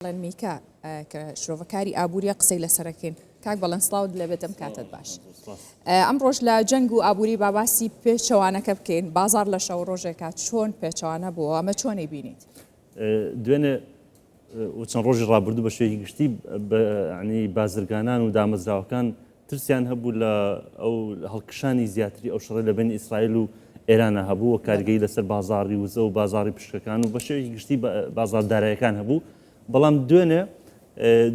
ئەلەن میکا کە شرۆڤەکاری ئابووریە قسەی لەسەرەکەین کاک بەڵێن سڵاوت لێ بێتم کاتت باش ئەم ڕۆژ لە جەنگ و ئابووری باباسی پێچەوانەکە بکەین بازار لە شەو ڕۆژێکا چۆن پێچەوانە بووە ئەمە چۆنی بینیت دوێنێ و چەند ڕۆژی ڕابردوو بە شێوی گشتی بەنی بازرگانان و دامەزراوەکان ترسیان هەبوو لە ئەو هەڵکشانی زیاتری ئەو شەڕەی لە بەینی ئیسرائیل و ئێرانا هەبوو و بەڵێ. کاریگەری لەسەر بازاڕی وزە و بازاڕی پشکەکان و بە شێوەیەکی گشتی بە بازاڕ داراییەکان هەبوو، بەڵام دوێنێ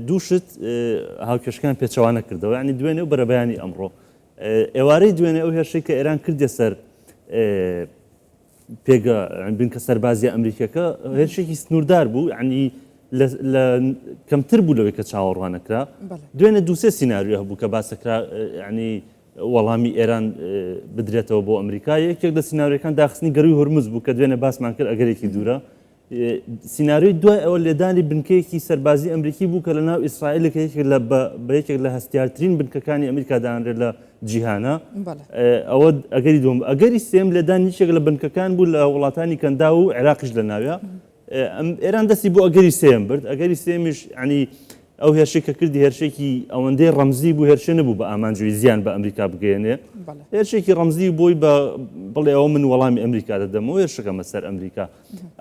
دوو شت هاوکێشەکەیان پێچەوانە کردەوە، یانی دوێنێ و بەرەبەیانی ئەمڕۆ. ئێوارەی دوێنێ ئەو هێرشەی کە ئێران کردیە سەر پێگە یان بنکە سەربازیە ئەمریکیەکە هێرشێکی سنووردار بوو عنی لە کەمتر بوو لەوەی کە چاوەڕوانەکرا دوێنێ دووسێ سینناریو هەبوو کە باسەکرا عنی وەڵامی ئێران بدرێتەوە بۆ ئەمریکا یەکێک لە سینناریەکان داخستنی گەروی هورمز بوو کە دوێنێ باسمان کرد ئەگەرێکی دوورە سیناریۆی دوای ئەوە لێدانی بنکەیەکی سەربازی ئەمریکی بوو کە لە ناو ئیسرائیل کە یەکێک لە بە یەکێک لە هەستیارترین بنکەکانی ئەمریکا دانرێت لە جیهانە ئەوە ئەگەری دوم ئەگەری سێم لێدان یەکێک لە بنکەکان بوو لە وڵاتانی کەندا و عێراقیش لە ناوە ئێران دەستی بۆ ئەگەری سێم برد ئەگەری سێمیش عنی ئەو هێرشی کە کردی هێرشێکی ئەوەندەی ڕەمزی بوو هێرشێ نەبوو بە ئامانجوی زیان بە ئەمریکا بگەێنێ هێرشێکی ڕەمزی بۆی بە بڵێەوە من وەڵامی ئەمریکا دەدەمەوە هێرشەکەمە سەر ئەمریکا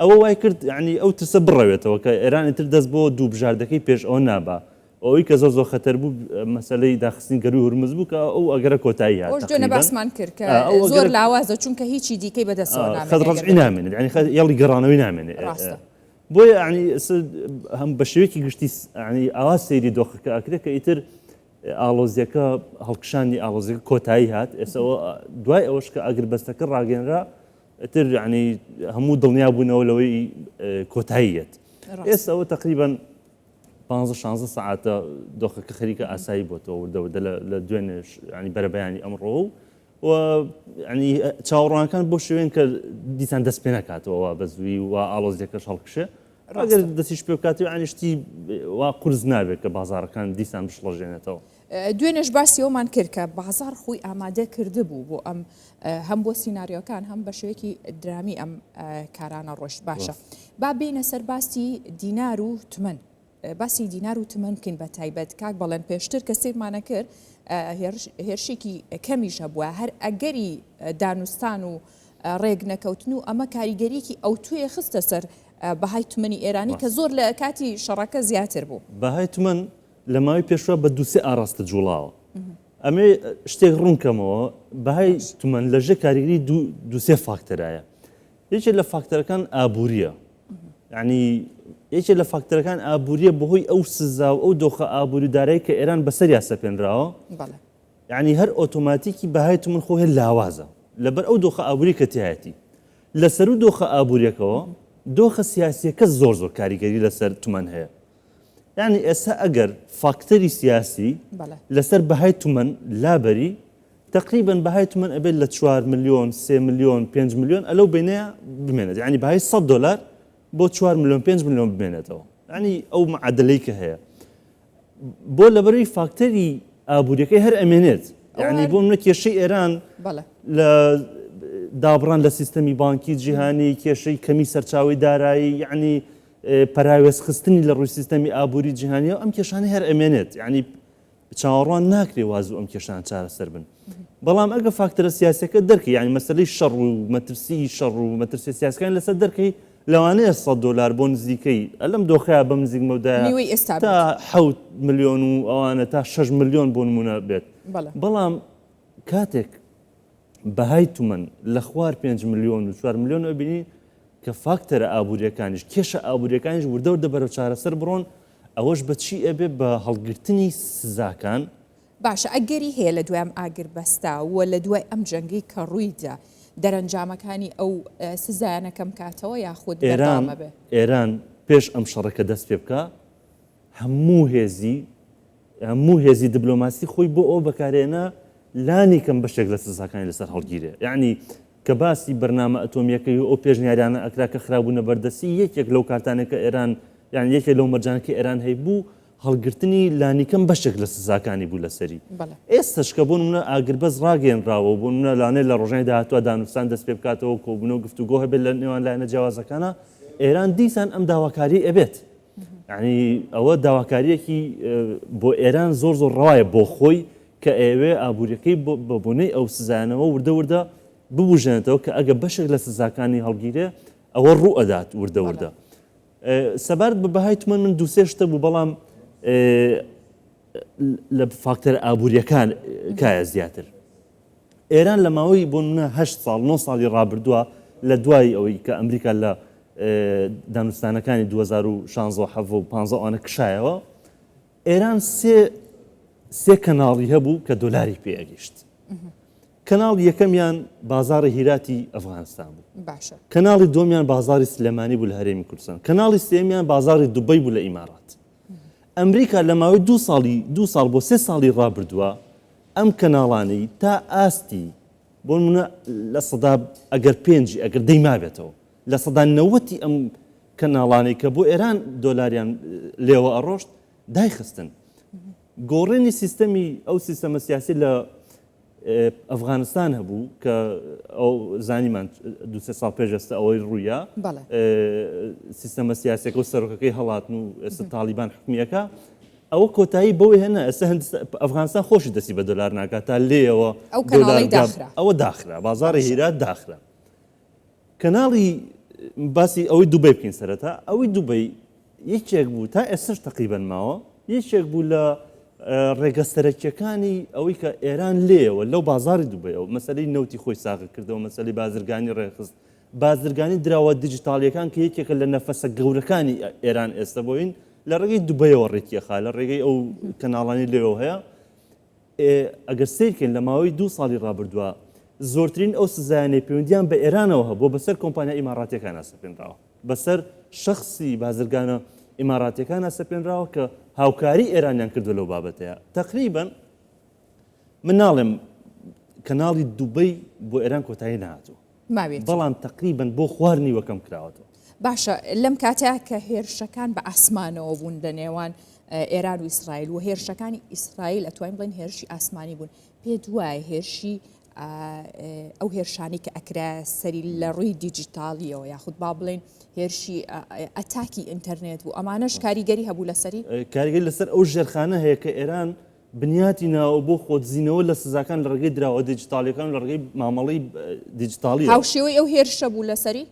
ئەوە وای کرد یەعنی ئەو ترسە بڕەوێتەوە کە ئێران ئیتر دەست بۆ دوو بژاردەکەی پێش ئەوە نابا و ئەوەی کە زۆر زۆر خەتەر بوو مەسەلەی داخستنی گەرووی هورمز بوو کە ئەو ئەگەرە کۆتایی هات ئەوەش دوێنێ تەقریبەن باسمان کرد کە ئا ئەو زۆر ئەگەرە لاوازە چونکە هیچی دیکەی بەدەستەوە ئا نامێنێ خەت ئەگەر ڕەجعی بەدوو نامێنێت یەعنی خەت هێڵی گەڕانەوەی نامێنێ ئێ ئێ ڕاستە. بۆیە یەعنی س هەم بە شێوەیەکی گشتی س یەعنی ئاوا سەیری دۆخەکە ئەکرێ کە ئیتر ئاڵۆزییەکە هەڵکشانی ئاڵۆزییەکە کۆتایی هات ئێستا ئەوە دوای ئەوەش کە ئاگربەستەکە ڕاگەیەنرا ئیتر یەعنی هەموو دڵنیا بوونەوە لەوەی کۆتایی یەت ئێستا ئەوە تقریبان پانزە شانزە سعاتە دۆخەکە خەریکە ئاسایی بۆتەوە وردە وردە لە دوێنێش ینی بەرەبەیانی ئەمڕۆ و و ینی چاوەڕوانەکان بۆ شوێن کە دیسان دەست پێ نکاتەوە بە زووی و ئالۆزیەکەش هەڵکشێ ڕاگەر دەستیش پێ بکاتی ئەنیشتی وا قرس نابێت کە بازارەکان دیسان بشڵەژێنێتەوە دوێنێش باسی ئەومان کرد کە بازاڕ خۆی ئامادە کردبوو بۆ ئەم هەم بۆ سینناریۆکان هەم بە شوێکی درامی ئەم کارانە ڕۆشت باشە با بینە سەر باسی دینار و تمن باسی دینار و تمن بکەین بە تایبەت کاک بەڵێن پێشتر کە سیرمانە کرد هێرشێکی کەمیش هەبووە هەر ئەگەری دانوستان و ڕێک نەکەوتن و ئەمە کاریگەریکی ئەو توێ خستە سەر بەهای تمەنی ئێرانی کە زۆر لە کاتی شەڕەکە زیاتر بوو بەهای تمەن لە ماوەی پێشوە بە دوو سێ ئاڕاستە جوڵاوە. ئەمێ شتێک ڕوون کەمەوە بەهای تومەن لەژێ کاریگری دوو سێ فاکتەرایە. یەکێ لە فاکتەرەکان ئابووریە. ینی یەکێ لە فاکتەرەکان ئابووریە بەهۆی ئەو سزا و ئەو دۆخە ئابووری دارایی کە ئێران بەسەر یاسە پێنراوە ینی هەر ئۆتۆماتیکی بەهای تومن خۆ هێ لاوازە لەبەر ئەو دۆخە ئابووری کە تایەتی لەسەر و دۆخە ئابووریەکەەوە دۆخە سیاسیەکە زۆر زۆر کاریگەری لەسەر تومەن هەیە یانی ئێستا ئەگەر فاکتەری سیاسی لەسەر بەهای تومەن لابەری تقریبن بەهای تومەن ئەبێت لە 4 میلیۆن سێ میلیۆن 5 میلیۆن ئەلو بینەیە بمێنێت ینی بەهای 100 دلار بۆ 4 میلیۆن 5 میلیۆن بمێنێتەوە ینی ئەو معادلەی کە هەیە بۆ لەبەروی فاکتەری ئابوووریەکەی هەر ئەمێنێت ینی بۆ منە کێشەی ئێران لە دابڕان لە سیستەمی بانکی جیهانی کێشەی کەمی سەرچاوی دارایی یعنی پەراوێزخستنی لە ڕووی سیستەمی ئابووری جیهانیەوە ئەم کێشانە هەر ئەمێنێت یعنی چاوەڕوان ناکرێ وازوو ئەم کێشان چارەسەر بن بەڵام ئەگە فاکتەرە سیاسەکە دەرکە یعنی مەسلەی شەڕ و مەترسی شەڕ و مەترسی سیاسەکان لەسەر دەرکەی لەوانەیە 100 دلار بۆ نزیکەی ئەلم دۆخەیە بەم نزیک مەودای ئێستا تا حوت میلیۆن و ئەوانە تا 6 میلیۆن بۆ نمونە بێت بەڵام کاتێک بەهای تومەن لە خوار پێنج ملیۆن و چوار ملیۆن ئەبینی کە فاکتەرە ئابووریەکانیش کێشە ئابووریەکانیش وردە وردە بەرەو چارەسەر بڕۆن ئەوەش بە چی ئەبێ بە هەڵگرتنی سزاکان. باشە ئەگەری هەیە لە دوای ئەم ئاگربەستە و لە دوای ئەم جەنگەی کە ڕوویدا دەرەنجامەکانی ئەو سزایانە کەمکاتەوە یاخود ئێران ئێران پێش ئەم شەڕەکە دەست پێ بکا هەموو هێزی هەموو هێزی دبلۆماسی خۆی بۆ ئەوە بەکارهێنا لانی کەم بەشێک لە سزاکانی لەسەر هەڵگیرێ یەعنی کە باسی بەرنامە ئەتۆمییەکەی و ئەو پێشنیارانە ئەکرا کە خرابوونە بەردەستی یەکێک لەو کارتانێک کە ئێران یان یەکێک لەو مەرجانە کە ئێران هەیبوو هەڵگرتنی لانیکەم بەشێک لە سزاکانی بوو لەسەری ئێستش کە بوون منە ئاگربەس ڕاگەێنراوە بوون منە لانێ لە ڕۆژنای داهاتوە دانوستان دەست پێ بکاتەوە کۆبوونەوە گفتوگۆ هەبێت لە نێوان لایەنە جیاوازەکانە ئێران دیسان ئەم داواکاری ئەبێت یەعنی ئەوە داواکارییەکی بۆ ئێران زۆر زۆر ڕەوایە بۆ خۆی کە ئەیەوێ ئابووریەکەی بە بۆنەی ئەو سزایانەوە وردە وردە ببوژێنێتەوە کە ئەگە بەشێک لە سزاکانی هەڵگیرێ ئەوە ڕوو ئەدات وردە وردە سەبارەت بە بەهای تمەن من دووسێ شتە بوو بەڵام لە فاکتەر ئابووریەکان کایە زیاتر ئێران لە ماوەی بۆ نمونە هەشت ساڵ نۆ ساڵی ڕابردووە لە دوای ئەوەی کە ئەمریکا لە دانوستانەکانی 2016 حەڤە و پانزە ئەوانە کشایەوە ئێران سێ سێ کەناڵی هەبوو کە دۆلاری پێگەیشت کەناڵ یەکەمیان بازاری هیراتی ئەفغانستان بوو باشە کەناڵی دۆمیان بازاری سلێمانی بوو لە هەرێمی کوردستان کەناڵی سێمیان بازاری دوبەی بوو لە ئیمارات ئەمریکا لە ماوەی دو ساڵی دو ساڵ بۆ سێ ساڵی ڕابردووە ئەم کەناڵانەی تا ئاستی بۆ نمونە لە سەدا ئەگەر پێنجی ئەگەر دەی مابێتەوە لە سەدا نەوەتی ئەم کەناڵانەی کە بۆ ئێران دۆلاریان لێوە ئەڕۆشت دایخستن گۆڕێنی سیستەمی ئەو سیستەمە سیاسی لە ئەفغانستان هەبوو کە ئەو زانیمان دوسێ ساڵ پێشەستە ئەوەی ڕوویە سیستەمە سیاسەکە و سەرۆکەکەی هەڵاتن و ئێستا تاالبان حکومیەکە ئەوە کۆتایی بەوە هێنا ئێستا هندستان ئەفغانستان خۆشی دەستی بە دۆلار ناکات تا لێیەوە ئەو کەناڵی دۆلار دا- داخرا. ئەوە داخرا بازاڕی باشە. هیرات داخرا کەناڵی باسی ئەوەی دوبەی بکەین سەرەتا ئەوەی دوبەی یەکێک بوو تا ئێستش تەقیبەن ماوە یەکێک بوو لە ئە، ڕێگە سەرەکیەکانی ئەوەی کە ئێران لێیەوە لەو بازاری دوبەیەوە مەسەلەی نەوتی خۆی ساغ کردەوە مەسەلەی بازرگانی ڕێکخست بازرگانی دراوە دیجیتاڵییەکان کە یەکێکە لە نەفەسە گەورەکانی ئێران ئێستە بۆین لە ڕێگەی دوبەیەوە ڕێکیەخا لە ڕێگەی ئەو کەناڵانی لێەوە هەیە ئەگەر سیرکەین لە ماوەی دو ساڵی ڕابردووە زۆرترین ئەو سزایانەی پەیوەندیان بە ئێرانەوە هەبوو بەسەر کۆمپانیا ئیماراتەکان ئەسەپێنراوە بەسەر شخصی بازرگانە ئیماراتەکان ئەسەپێنراوە کە هاوکاری ئێرانیان کردو لەو بابەتەیە تقریبن من ناڵێم کەناڵی دوبەی بۆ ئێران کۆتایی نهاتوو ماویەتی. بەڵام تەقریبەن بۆ خوار نیوەکەم کراوەتەوە. باشە لەم کاتە کە هێرشەکان بە ئاسمانەوە بوون لە نێوان ئێران و ئیسرائیل و هێرشەکانی ئیسرائیل ئەتوانین بڵێن هێرشی ئاسمانی بوون پێ دوای هێرشی ئەو هێرشانی کە ئەکرا سەری لە ڕووی دیجیتالیەوە یاخود با بڵێن هێرشی ئەتاکی ئینتەرنێت بوو ئەمانەش کاریگەری هەبوو لەسەری کاریگەری لەسەر ئەو ژێرخانە هەیە کە ئێران بنیاتی ناوە بۆ خۆدزینەوە لە سزاکان لە ڕێگەی دراوە دیجیتاڵیەکان لە ڕێگەی مامەڵی دیجیتاڵی هاوشێوەی ئەو هێرشە بوو لەسەری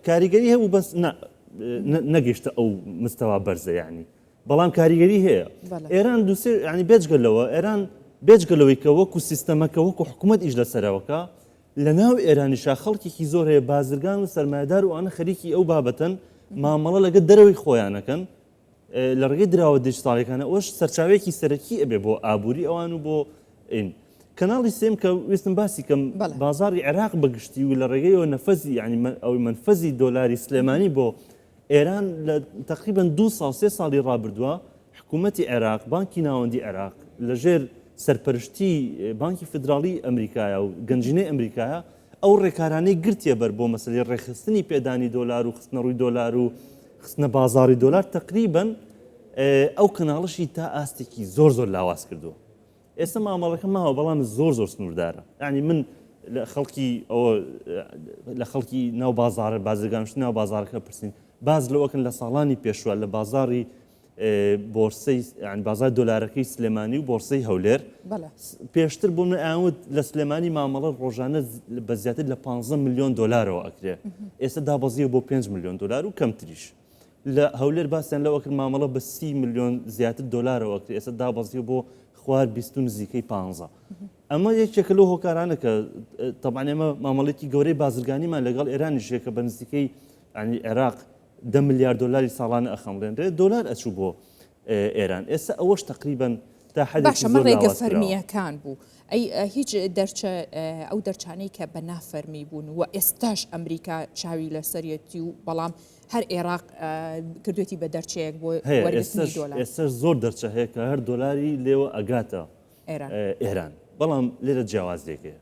کاریگەری هەبوو بەس نەگەشتە ئەو مستەوا بەرزەیانی بەڵام کاریگەری هەیە ئێران دووسێ ینی بێجگە لەوە ئێران بێجگە لەوەی کە وەکو سیستەمەکە وەکو حکوومەت ئیش لەسەرەوەکە لە ناو ئێرانیشا خەڵکێکی زۆر هەیە بازرگان و سەرمایدار وانە خەریکی ئەو بابەتەن مامەڵە لەگە دەرەوەی خۆیانەکەن لە ڕێگەی دراوە دیجتاڵەکانە ئەوش سەرچاوێکی سەرەکی ئەبێ بۆ ئابووری ئەوان و بۆ ئین کەناڵی سێم کە وستم باسی کەم بازاری عێراق بەگشتی و لە ڕێگەیەوە نەفەزی ینی ئەوی منفەزی دۆلاری سلێمانی بۆ ئێران لە تقریبن دو ساڵ سێ ساڵی ڕابردووە حکوومەتتی عێراق بانکی ناوەندی عێراق لەژێر سەرپەرشتی بانکی فدراڵی ئەمریکایە و گەنجینەی ئەمریکایە ئەو ڕێکارانەی گرتێ بەر بۆ مەسلی ڕێخستنی پێدانی دۆلار و خستنەڕووی دۆلار و خستنە بازاڕی دۆلار تەقریبەن ئەو کەناڵشی تا ئاستێکی زۆر زۆر لاواز کردووە ئێستا مامەڵەکە ماوە بەڵام زۆر زۆر سنووردارە ینی من لە خەڵکی ئەوە لە خەڵکی ناو بازارە بازرگانشت ناو بازارەکە پرسین باز لەوەکن لە ساڵانی پێشوە لە بازاری بۆرسەی یان بازار دۆلارەکەی سلێمانی و بۆرسەی هەولێر بەڵێ س- پێشتر بۆ من ئاوت لە سلێمانی مامەڵە ڕۆژانە ز- بە زیاتر لە 15 ملیۆن دۆلارەوە ئەکرێ ئێستا دابەزیوە بۆ 5 ملیۆن دۆلار و کەمتریش لە هەولێر باسیان لەوە کرد مامەڵە بە 30 ملیۆن زیاتر دۆلارەوە ئەکرێ ئێستا دابەزیوە بۆ خوار 20 و نزیکەی 15 ئەمە یەکێکە لەو هۆکارانە کە تەبعەن ئێمە مامەڵێکی گەورەی بازرگانیمان لەگەڵ ئێرانیش هەیە کە بە نزیکەی یانی عێراق دە ملیار دۆلاری ساڵانە ئەخەمڵێنرێت دۆلار ئەچوو بۆ ئێران ئێستا ئەوەش تەقریبەن تا حەدێکی زۆر لاواز کراوە. باشە ئەمە ڕێگە فەرمییەکان بوو ئەی هیچ دەرچە ئەو دەرچانەی کە بە نا فەرمی بوون و ئێستاش ئەمریکا چاوی لەسەرەتی و بەڵام هەر ئێراق کردوێتی بە دەرچەیەک بۆ ئێستا زۆر دەرچە هەیە کە هەر دۆلاری لێوە ئەگاتە ئێران بەڵام لێرە جیاوازێکەیە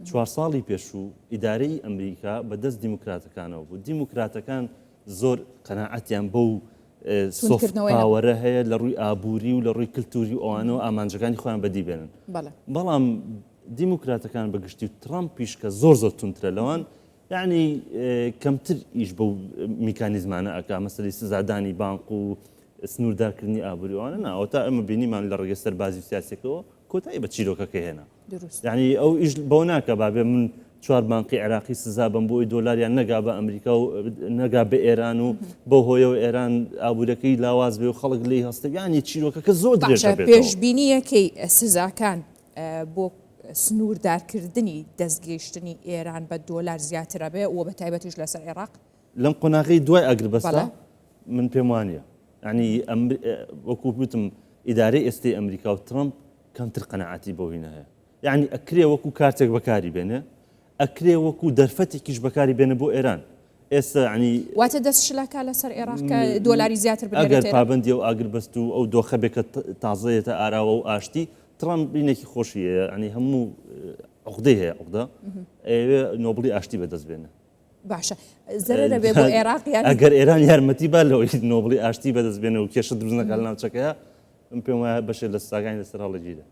چوار ساڵی پێشوو ئیدارەی ئەمریکا بە دەست دیموکراتەکانەوە بوو دیموکراتەکان زۆر قەناعەتیان بەو سۆفکردنەوەیەوەرە هەیە لە ڕووی ئابووری و لە ڕووی کللتوری ئەوانەوە ئامانجەکانی خۆیان بەدی بێنن بەڵام دیموکراتەکان بەگشتی و ترامپ پیشکە زۆر زۆر تونترە لەوان یعنی کەمتر ئیش بە میکانیزمانە ئەک مەسلی سزادانی بانق و سنووردارکردنی ئابووریوانە ناوەتا ئەمە بینیمان لە ڕێگە سەربازی سیاسەکەەوە کۆتایی بە چیرۆکەکە هێنا دروست یەعنی ئەو ئیش بەوە ناکە بابێ من چوار بانقی عێراقی سزا بەم بۆی دۆلاریان نەگا بە ئەمریکا و نەگا بە ئێران و بۆ هۆیەوە ئێران ئابوورەکەی لاواز بێ و خەڵک لی هەستەگانی چیرۆکەکە زۆر درێژە بێت پێشبینیەکەی سزاکان بۆ سنووردارکردنی دەستگەیشتنی ئێران بە دۆلار زیاترە بێ و بە تایبەتیش لەسەر عێراق لەم قۆناغی دوای ئەگر بەسە من پێم وانە ینی وەکووتم ئیدارەی ئێستی ئەمریکا و ترمپ کەمتر قەناعەتی بەو هینە هەیە. یەعنی ئەکرێ وەکو کارتێک بەکاری بێنێ، ئەکرێ وەکو دەرفەتێکیش بەکاری بێنێ بۆ ئێران. ئێستا یەعنی. واتە دەست شلە کا لە سەر ئێراق کە دۆلاری زیاتر بنێرێتە ئێراق. ئەگەر پابەندی ئەو ئاگربەست و ئەو دۆخە بێ کە تازە یەتە ئاراوە و ئاشتی، تڕەمپ بینێکی خۆشی هەیە، یەعنی هەموو عوقدەی هەیە، عوقدە، ئەیەوێ نۆبڵی ئاشتی بەدەست بێنێ. باشە زەرەرە بێ بۆ عێراق یان ئەگەر ئێران یارمەتی با لەوەی نۆبڵی ئاشتی بەدەست بێنە و کێشە دروست نەکات لە ناوچەکەیە من پێم وایە بەشێ لە سزاکانی لەسەر هەڵەگیرە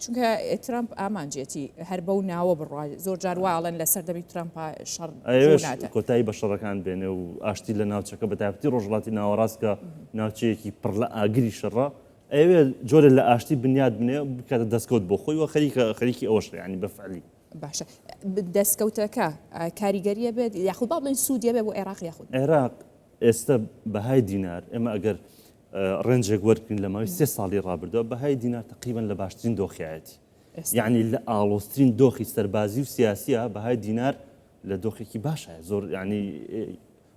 چونکە ترامپ ئامانجێتی هەر بەو ناوە بڕای زۆر جار واڵن لە سەردەمی ترامپا شەڕ ئەوێش ناتە. کۆتایی بە شەڕەکان بێنێ و ئاشتی لە ناوچەکە بە تایبەتی ڕۆژهەڵاتی ناوەڕاست کە ناوچەیەکی پڕ لە ئاگری شەڕە ئەوێ جۆرە لە ئاشتی بنیاد بنێ بکاتە دەستکەوت بۆ خۆی و خەریکە خەریکی ئەوەش ینی بەفعلی باشە دەستکەوتەکە کاریگەریە بێت یاخود با بڵێن سوودیە بێ بۆ عێراق یاخود عێراق ئێستا بەهای دینار ئێمە ئەگەر ڕێنجێک وەرگین لە ماوەی سێ ساڵی ڕابردەوە بەهای دینار تقریبان لە باشترین دۆخایەتی یعنی لە ئاڵۆسترین دۆخی سەربازی و سیاسیە بەهای دینار لە دۆخێکی باشە زۆر ینی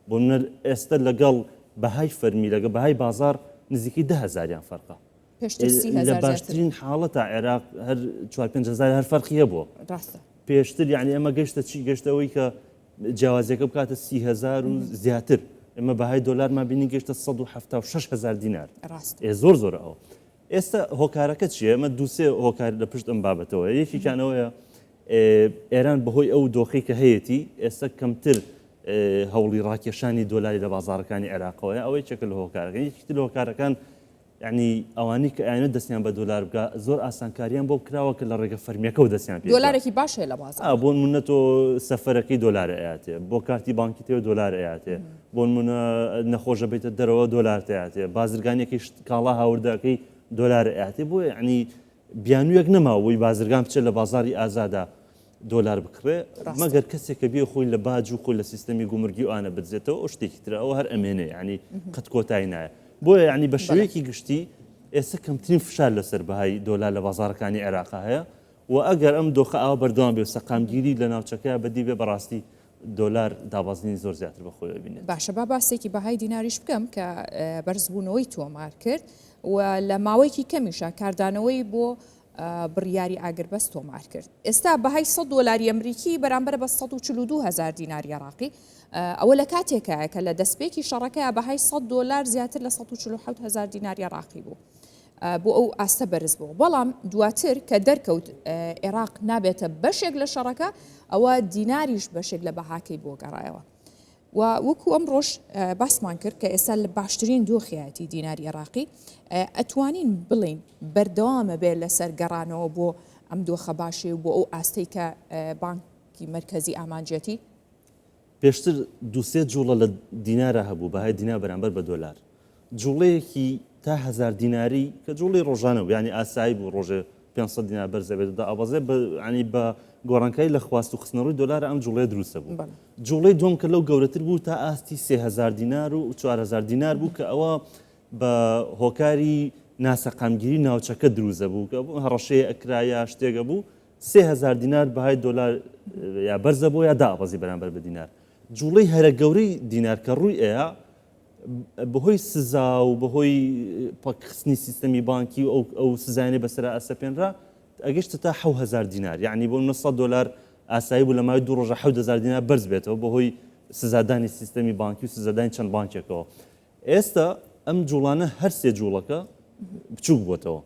بۆ منەر ئێستا لەگەڵ بەهای فەرمی لەگە بەهای بازار نزیکی دهزاریان فەرقە پێشتر سی لە هەزار زیاتر باشترین حاڵەتا عێراق هەر چوار پێنج هەزار هەر فەرقی هەبووە ڕاستە پێشتر یعنی ئەمە گەشتە چی گەشتەوەی کە جیاوازیەکە بکاتە سی هزار و زیاتر ئمە بەهای دۆلارمان بینی گەشتە 1970 هزار دینار ڕاستە ئێ زۆر زۆر ئەوە ئێستا هۆکارەکە چیە ئەمە دووسێ هۆکار لە پشت ئەم بابەتەوە یەکێکیانەوەیە ئێ، ئێران بەهۆی ئەو دۆخی کە هەیەتی ئێستا کەمتر ئێ، هەوڵی ڕاکێشانی دۆلاری لە بازارەکانی عێراقەوەیە ئەوەی چەکە لە هۆکارەکە یەکیتر لە هۆکارەکان یەعنی ئەوانەی کە ئەیانەوێت دەستیان بە دۆلار بکا زۆر ئاسانکاریان بۆ کراوە کە لە ڕێگە فەرمییەکەوە دەستیان پێ بکا. دۆلارێکی باش هەیە لە بازاڕ. بۆ نموونە تۆ سەفەرەکەی دۆلار ئەیاتێ، بۆ کارتی بانکیت هەیە دۆلار ئەیاتێ، بۆ نموونە نەخۆش ئەبیتە دەرەوە دۆلارت ئەیاتێ، بازرگانییەکەی شت کاڵا هاوردە ئەکەی دۆلار ئەیاتێ، بۆیە یەعنی بیانویەک نەماوبوی بازرگان بچێت لە بازاری ئازادا دۆلار بکڕێ مەگەر کەسێک کە بێ خۆی لە باج و خۆی لە سیستەمی گومرگی و ئانە بدزێتەوە ئەو شتێکی ترە ئەو هەر ئەمێنێ ینی قەت کۆتای نایە بۆیە ینی بە شێوەیەکی گشتی ئێستا کەمترین فشار لەسەر بەهای دۆلار لە بازارەکانی عێراق هەیە و ئەگەر ئەم دۆخە ئاوا بەردەوام بێ سەقامگیری لە ناوچەکەیا بەدی بێ بەڕاستی دۆلار دابەزینی زۆر زیاتر بە خۆیەوە بینێت. باشە با باسێکی بەهای دیناریش بکەم کە بەرزبوونەوەی تۆمار کرد و لە ماوەیەکی کەمیشا کاردانەوەی بۆ بڕیاری ئاگربەست تۆمار کرد ئێستا بەهای سەد دۆلاری ئەمریکی بەرامبەر بە سەد و چل و دوو هەزار دیناری عێراقی ئەوە لە کاتێکایە کە لە دەستپێکی شەڕەکەیا بەهای سەد دۆلار زیاتر لە سەد و چل و حەوت هەزار دیناری عێراقی بوو بۆ ئەو ئاستە بەرز بوو، بەڵام دواتر کە دەرکەوت عێراق نابێتە بەشێک لە شەڕەکە، ئەوە دیناریش بەشێک لە بەهاکەی بۆ گەڕایەوە. و وەکو ئەمڕۆش باسمان کرد کە ئێستا لە باشترین دۆخیایەتی دیناری عێراقی، ئەتوانین بڵێین بەردەوامە بێ لەسەر گەڕانەوە بۆ ئەم دۆخە باشەی و بۆ ئەو ئاستەی کە بانکی مەرکەزی ئامانجیەتی. پێشتر دوو سێ جووڵە لە دینارا هەبوو، بەهای دینار بەرامبەر بە دۆلار. جووڵەیەکی تا هەزار دیناری کە جووڵەی ڕۆژانە بوو، یانی ئاسایی بوو ڕۆژێ پێنج سەد دینار بەرز ئەبێت و دائەبەزێت، بە یانی بە گۆڕانکاری لە خواست و خستنەڕووی دۆلارا ئەم جووڵەیە دروست ئەبوو. جووڵەی دووەم کە لەو گەورەتر بوو تا ئاستی سێ هەزار دینار و چوار هەزار دینار بوو کە ئەوە بە هۆکاری ناسەقامگیری ناوچەکە دروست ئەبوو کە هەڕەشەیە ئەکرا یا شتێک ئەبوو، سێ هەزار دینار بەهای دۆلار یا بەرزە بۆ یا دائەبەزی بەرامبەر بە دینار. جووڵەی هەرە گەورەی دینار کە ڕووی ئەیا بەهۆی سزا و بەهۆی پەکخستنی سیستەمی بانکی و ئەو سزایانەی بەسەرا ئەسەپێنرا ئەگەشتە تا حەو هەزار دینار یعنی بۆ نە سەد دۆلار ئاسایی بوو لە ماوەی دوو ڕۆژە حەوت هەزار دینار بەرز بێتەوە بەهۆی سزادانی سیستەمی بانکی و سزادانی چەند بانکێکەوە ئێستا ئەم جوڵانە هەر سێ جوڵەکە بچوک بۆتەوە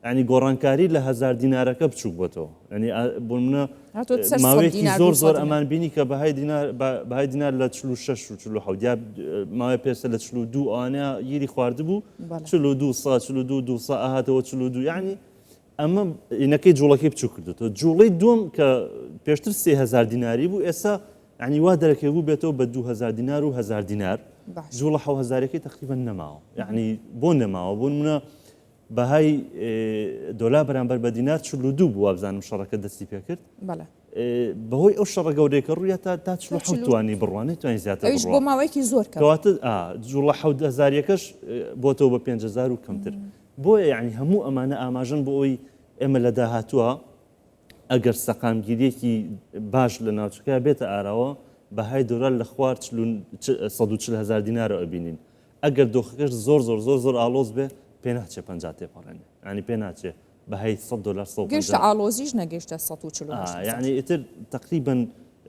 ینی گۆڕانکاری لە هەزار دینارەکە بچوک بۆتەوە ینی بۆمنە ماوەیەکی زۆر زۆر ئەمان بینی کە بەهای دینار بەهای دینار لە چلو شش و چلو حودیا ماوەی پێسە لە چلو دوو ئەوانە گیری خواردبوو چلو دوو سا چلو دوو دوو سا ئاهاتەوە چلو دوو ینی ئەمە ئینەکەی جوڵەکەی بچوک کردێتەوە جوڵەی دوم کە پێشتر سێ هزار دیناری بوو ئێستا ینی وا دەرەکەی بوو بێتەوە بە دو هزار دینار و هزار دینار جوڵە حە هزارەکەی تقریبا نەماوە یعنی بۆ نەماوە بوون منە بەهای دۆلا بەرامبەر بە دینار چ لو دوو بووە بزانم شەڕەکە دەستی پێ کرد بەهۆی ئەو شەڕە گەورەیەکە ڕوویە تا تا توانی بڕوانێت توانین زیاتر بۆ ماوەیەکی زۆر کەواتە جوڵە حەزاریەکەش بۆتەوە بە 5هزار و کەمتر بۆیە یەعنی هەموو ئەمانە ئاماژەن بۆ ئەوەی ئێمە لە داهاتووە ئەگەر سەقامگیرییەکی باش لە ناوچەکە بێتە ئاراوە بەهای دۆلار لە خوار چل و سەد و چل هەزار دینارەوە ئەبینین ئەگەر دۆخەکەش زۆر زۆر زۆر زۆر ئاڵۆز بێ پێ ناچێ پەنجا تێپەڕێنێ یانی پێ ناچێ بەهای سەد دۆلار سەد و گەیشتە پەنجا ئاڵۆزیش نەگەیشتە سەد و چل و هەشت هەزار. یانی ئیتر تەقریبەن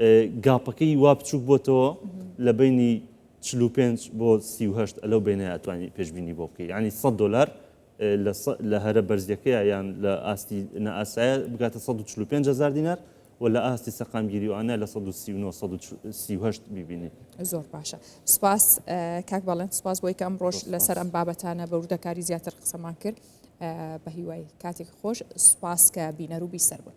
ئێ گاپەکەی وا بچووک بۆتەوە لە بەینی چل و پێنج بۆ سی و هەشت لەو بەینەیا ئەتوانی پێشبینی بۆ بکەی یانی سەد دۆلار لە لە هەرە بەرزیەکەیە یان لە ئاستی نائاسایە بگاتە سەد و چل و پێنج هەزار دینار و لە ئاستی سەقامگیری و ئانە لە سەد و سی و نۆ سەد و سی و هەشت بیبینی زۆر باشە سپاس کاک بەڵێن سپاس بۆی کە ئەمڕۆژ زۆر لەسەر سپاس ئەم بابەتانە بە وردەکاری زیاتر قسەمان کرد ئە، بە هیوای کاتێک خۆش سپاس کە بینەر و بیسەر بوون.